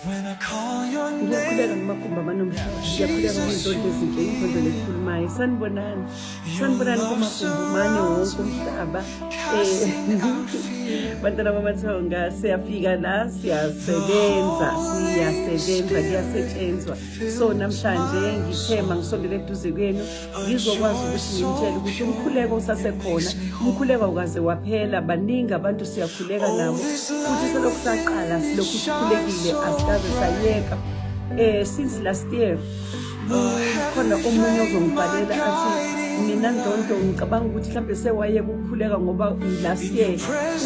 Ngiyakhuleka ngamakhumbi amanomhlaba. Ngiyakhuleka ngezondlo ezinhle, izondlo lezikhulumayo. Sanibonani. Sanibonani kumakhumbi mane wonke umhlaba. Eh, bantwana bamathonga siyafika la siyasebenza siyasebenza kuyasetshenzwa so namhlanje ngithema ngisondele eduze kwenu ngizokwazi ukuthi ngimtshele ukuthi umkhuleko usasekhona umkhuleko awukaze waphela baningi abantu siyakhuleka nabo futhi selokhu saqala silokhu sikhulekile asikaze sayeka um since last year khona omunye ozongibhalela athi mina ndonto ngicabanga ukuthi mhlawumbe sewayeka ukukhuleka ngoba last year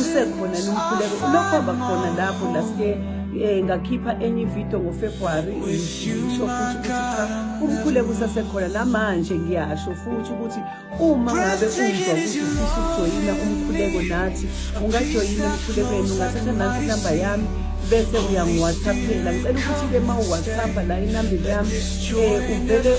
usekhona nomkhuleko lokho abakhona lapho last year um ngakhipha enye ividiyo ngofebruwari Ngisho futhi ukuthi cha umkhuleko usasekhona namanje ngiyasho futhi ukuthi uma ngabe uzwa ukuthi ufisa ukujoyina umkhuleko nathi ungajoyina emkhulekweni ungathatha nansi inamba yami bese uyangiwhatsappela ngicela ukuthi-ke ma uwhatsappha la inambile yami um uvele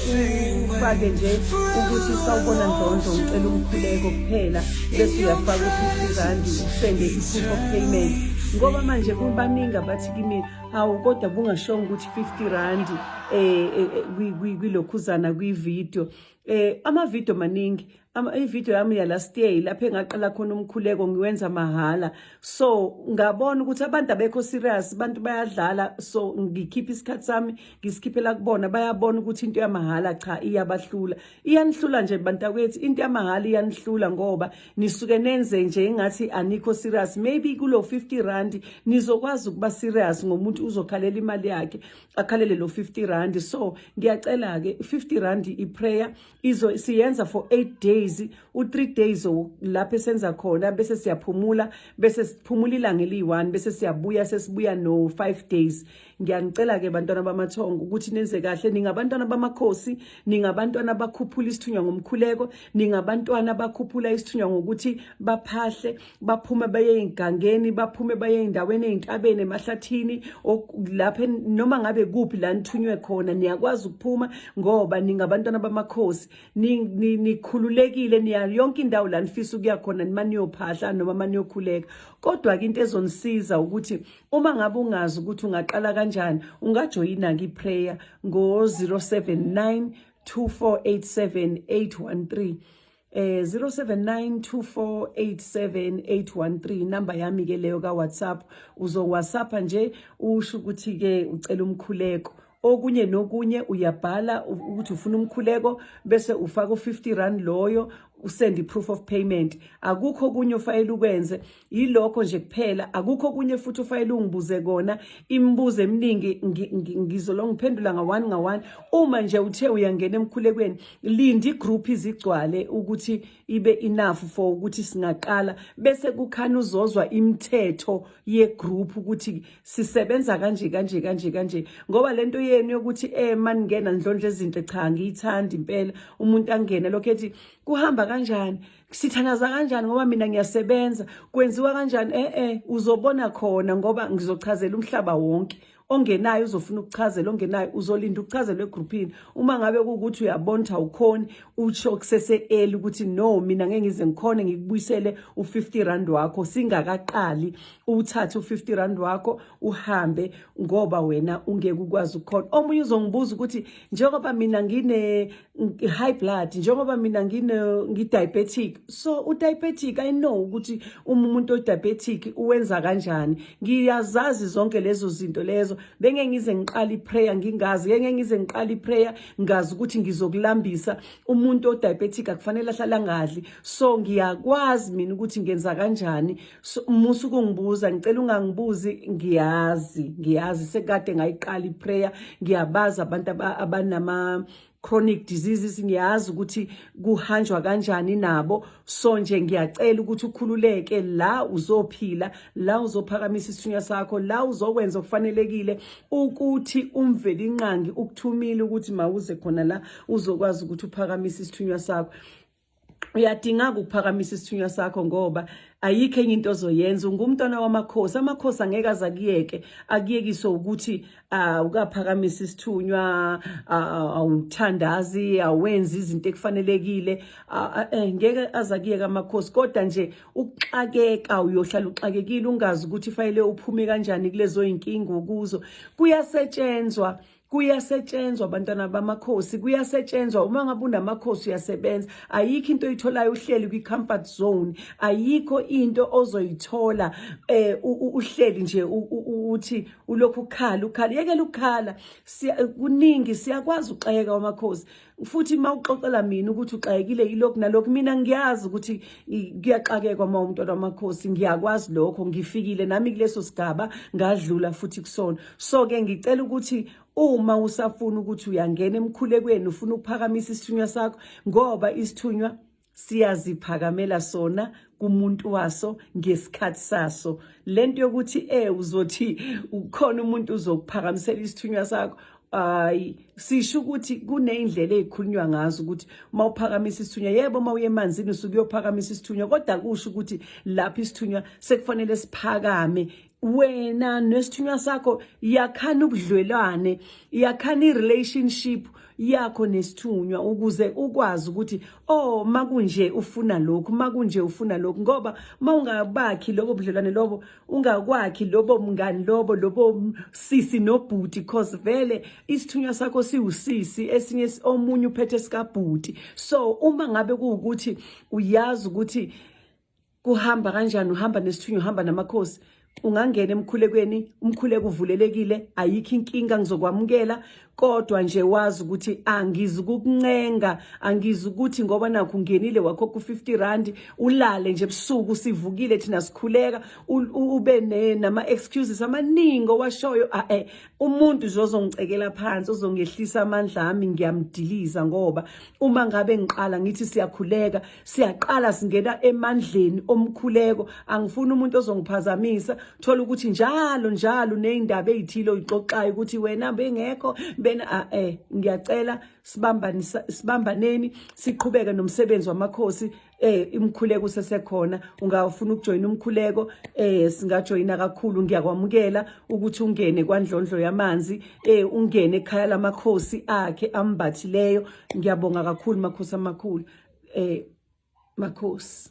ufake nje ukuthi sawubona ndondlo ngicela umkhuleko kuphela bese uyafaka u-fifty randi usende i-proof of payment ngoba manje kubaningi abathi kimi hawu kodwa bungashongo ukuthi 50 rand eh, eh, eh kwilokhuzana kwivideo eh amavideo maningi ivideo yami yalast year lapho engaqala khona umkhuleko ngiwenza mahhala so ngabona ukuthi abantu abekho serious abantu bayadlala so ngikhipha isikhathi sami ngisikhiphela kubona bayabona ukuthi into yamahhala cha iyabahlula iyanihlula nje bantakwethu into yamahhala iyanihlula ngoba nisuke nenze nje ingathi anikho serious maybe kulo 50 rand nizokwazi ukuba serious ngomuntu uzokhalela imali yakhe akhalele lo 50 rand so ngiyacela ke 50 rand iprayer izo siyenza for 8 days u 3 days lapho esenza khona bese siyaphumula bese siphumula ilanga eliyi1 bese siyabuya sesibuya no 5 days ngiyanicela-ke bantwana bamathongo ukuthi nenze kahle ningabantwana bamakhosi ningabantwana bakhuphula isithunywa ngomkhuleko ningabantwana bakhuphula isithunywa ngokuthi baphahle baphume baye ey'ngangeni baphume baye ey'ndaweni ey'ntabeni emahlathini lapho noma ngabe kuphi la nithunywe khona niyakwazi ukuphuma ngoba ningabantwana bamakhosi nikhululekile niya yonke indawo la nifisa ukuya khona nima niyophahla noma maniyokhuleka kodwa-ke into ezonisiza ukuthi Uma ngabe ungazi ukuthi ungaqala kanjani, ungajoyina kiPrayer ngo-079 2487813 eh 0792487813 number yami ke leyo ka WhatsApp uzo WhatsApp nje usho ukuthi ke ucela umkhuleko okunye nokunye uyabhala ukuthi ufuna umkhuleko bese ufaka u50 rand loyo usend iproof of payment akukho kunye ofayela ukwenze yilokho nje kuphela akukho kunye futhi ofayela ungibuze kona imibuzo eminingi ngizolo ngiphendula nga one nga one uma nje uthe uyangena emkhulekweni linda igroup izigcwale ukuthi ibe enough for ukuthi singaqala bese kukhana uzozwa imithetho yegroup ukuthi sisebenza kanje kanje kanje kanje ngoba lento yenu yokuthi eh maningena ndlondle ezinhle cha ngiyithandi impela umuntu angene lokho ethi kuhamba kanjani sithanaza kanjani ngoba mina ngiyasebenza kwenziwa kanjani eh eh uzobona khona ngoba ngizochazela umhlaba wonke ongenayo uzofuna ukuchazela ongenayo uzolinda ukuchazelwa egrouphini uma ngabe kukuthi uyabona ukuthi awukhoni usho kusese-eli ukuthi no mina ngeke ngize ngikhone ngikubuyisele u-50 rand wakho singakaqali uwuthathe u-50 rand wakho uhambe ngoba wena ungeke ukwazi ukukhona omunye uzongibuza ukuthi njengoba mina ngine high blood njengoba mina ngino ngidiabetic so udiabetic i know ukuthi uma umuntu odiabetic uwenza kanjani ngiyazazi zonke lezo zinto lezo benge ngize ngiqala iprayer ngingazi ngeke ngize ngiqala iprayer ngazi ukuthi ngizokulambisa umuntu odiabetic akufanele ahlala ngadli so ngiyakwazi mina ukuthi ngenza kanjani So, musa ukungibuza ngicela ungangibuzi ngiyazi ngiyazi sekade ngayiqala iprayer ngiyabaza abantu abanama chronic diseases ngiyazi ukuthi kuhanjwa kanjani nabo so nje ngiyacela ukuthi ukhululeke la uzophila la uzophakamisa isithunywa sakho la uzokwenza okufanelekile ukuthi umveli inqangi ukuthumile ukuthi mawuze khona la uzokwazi ukuthi uphakamise isithunywa sakho uyadingaka ukuphakamisa isithunywa sakho ngoba ayikho enye into ozoyenza ungumntwana wamakhosi amakhosi angeke aze akuyeke akuyekiswe ukuthi uh, ukaphakamisa isithunywa uh, awuthandazi awenzi izinto ekufanelekile uh, eh, ngeke aze akuyeke amakhosi kodwa nje ukuxakeka uyohlala uxakekile ungazi ukuthi fanele uphume kanjani kulezo yinkinga okuzo kuyasetshenzwa kuyasetshenzwa abantwana bamakhosi kuyasetshenzwa uma ngabe unamakhosi uyasebenza ayikho into oyitholayo uhleli kwi-comfort zone ayikho into ozoyithola eh uhleli nje uthi ulokhu ukhala ukhala yekela ukukhala kuningi siyakwazi ukuxhayeka wamakhosi futhi uma uxoxela mina ukuthi uxakekile yilokhu nalokhu mina ngiyazi ukuthi kuyaxakekwa uma umntwana wamakhosi ngiyakwazi lokho ngifikile nami kuleso sigaba ngadlula futhi kusona so-ke ngicela ukuthi uma usafuna ukuthi uyangena emkhulekweni ufuna ukuphakamisa isithunywa sakho ngoba isithunywa siyaziphakamela sona kumuntu waso ngesikhathi saso lento yokuthi eh uzothi ukhona umuntu uzokuphakamisela isithunywa sakho hayi sisho ukuthi kuneyindlela ezikhulunywa ngazo ukuthi uma uphakamisa isithunywa yebo uma uye emanzini usuke uyophakamisa isithunywa kodwa kusho ukuthi lapho isithunywa sekufanele siphakame wena nesithunywa sakho yakhana ubudlwelwane yakhana irelationship yakho nesithunywa ukuze ukwazi ukuthi oh makunje ufuna lokhu makunje ufuna lokhu ngoba mawungabakhi lobo budlelwane lobo ungakwakhi lobo mngani lobo lobo sisi nobhuti because vele isithunywa sakho siwusisi esinye omunye uphethe sikabhuti so uma ngabe kuwukuthi uyazi ukuthi kuhamba kanjani uhamba nesithunywa uhamba namakhosi ungangena emkhulekweni umkhuleko uvulelekile ayikho inkinga ngizokwamukela kodwa nje wazi ukuthi angizi kukuncenga angizi ukuthi ngoba nakho ungenile wakho ku-50 rand ulale nje ebusuku sivukile thina sikhuleka ube nama-excuses amaningi owashoyo ae umuntu nje ozongicekela phansi ozongehlisa amandla ami ngiyamdiliza ngoba uma ngabe ngiqala ngithi siyakhuleka siyaqala singena emandleni omkhuleko angifuni umuntu ozongiphazamisa thola ukuthi njalo njalo nezindaba ezithile oyixoxayo ukuthi wena bengekho bena a eh ngiyacela sibambani sibambaneni siqhubeke nomsebenzi wamakhosi eh imkhuleko usesekhona ungafuna ukujoyina umkhuleko eh singajoyina kakhulu ngiyakwamukela ukuthi ungene kwandlondlo yamanzi eh ungene ekhaya lamakhosi akhe ambathileyo ngiyabonga kakhulu makhosi amakhulu eh makhosi